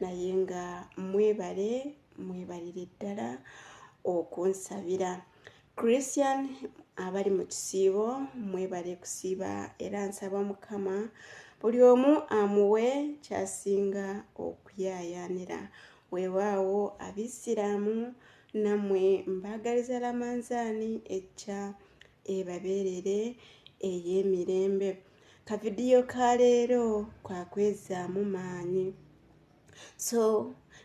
naye nga mwebale mwebalire ddala okunsabira christian abali mu kisiibo mwebale kusiiba era nsaba mukama buli omu amuwe kyasinga okuyaayaanira weewaawo abisiraamu nammwe mbaagaliza lamanzaani ejja ebabeerere ey'emirembe kavidiyo ka leero kwakwezaamu maanyi so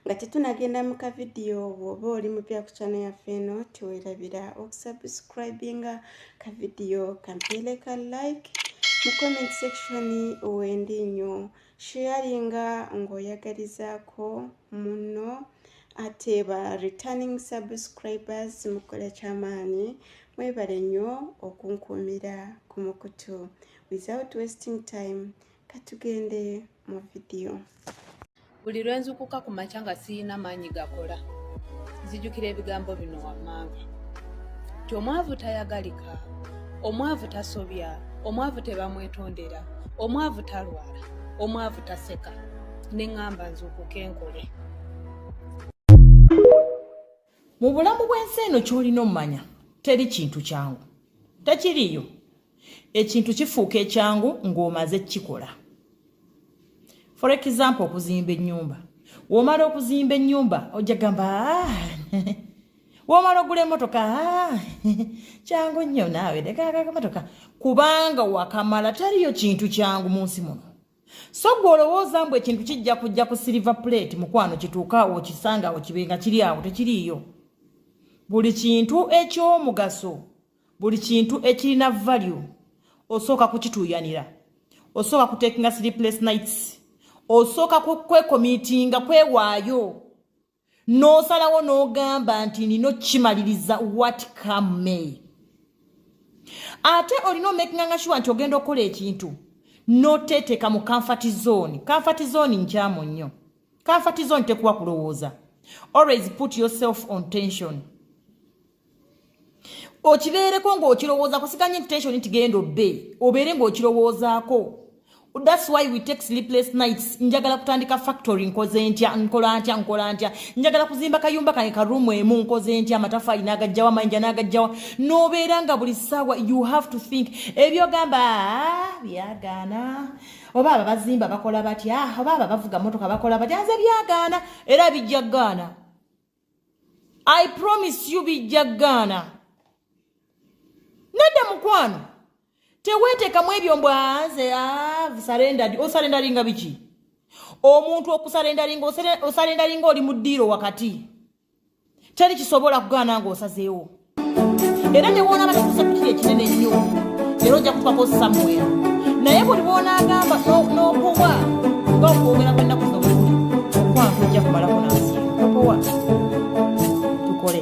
nga tetunagenda mu kavidiyo bwoba oli mupya ku kyana yaffe eno tiwerabira okusubscribinga kavidiyo kampeere ka like mu comment section wendi nnyo sharinga ng'oyagalizaako munno ate ba returning subscribers mukola kyamaanyi mwebale nnyo okunkuumira ku mukutu without wasting time katugende mu vidiyo buli lwe nzukuka ku makya nga siyina maanyi gakola nzijukira ebigambo bino wammanga ti omwavu tayagalika Omwavu tasobya, omwavu tebamwetondera, omwavu talwala, omwavu taseka. Ne ŋŋamba nzuukuke nkole. Mu bulamu bw'ensi eno ky'olina omanya teri kintu kyangu. Tekiriiyo. Ekintu kifuuka ekyangu ng'omaze kukikola. For example okuzimba ennyumba. W'omala okuzimba ennyumba ojja gamba ah, womala ogula emotoka ah, kyangu nnyo naawe nekakakamotoka kubanga wakamala taliyo kintu kyangu mu nsi muno so gwe olowooza mbu ekintu kijja kujja ku siliva plate mukwano kituuka awo okisanga awo kibe nga kiri awo tekiriiyo buli kintu ekyomugaso buli kintu ekirina value osooka kukituuyanira osooka kutekinga sleepless nights osooka kwekomitinga kwewaayo n'osalawo n'ogamba nti nina okimaliriza wat come may ate olina omekinganga shuwa nti ogenda okukola ekintu noteteeka mu kanfati zooni kanfati zooni nkyamu nnyo kanfati zooni tekuwa kulowooza always put yourself on tension okibeereko ng'okirowooza kusiganya intention nti genda obbe obeere ng'okirowoozaako thats why we take sleepless nights njagala kutandika factory nkoze ntya nkola ntya nkola ntya njagala kuzimba kayumba kange karuumu emu nkoze ntya amatafaali n'agajjawa mayinja n'agajjawa n'obeera nga buli ssaawa you have to think ebyogamba ah, byagaana oba aba bazimba bakola batya ah, oba aba bavuga motoka bakola batya nze byagaana era bijja gaana i promise you bijja gaana nedda mukwano teweetekamu ebyo mbwanze ah, sarendered osarendaringa biki omuntu okusarendaringa osarendaringa oli mu ddiiro wakati teri kisobola kugaana nga osazeewo era newonaba kikusa kukiri ekinene ennyo era ojja kutwako samuel naye buli bwonagamba nokuwa nga okwogera kwennaku zobuli okwange ojja kumalako nansi okuwa tukole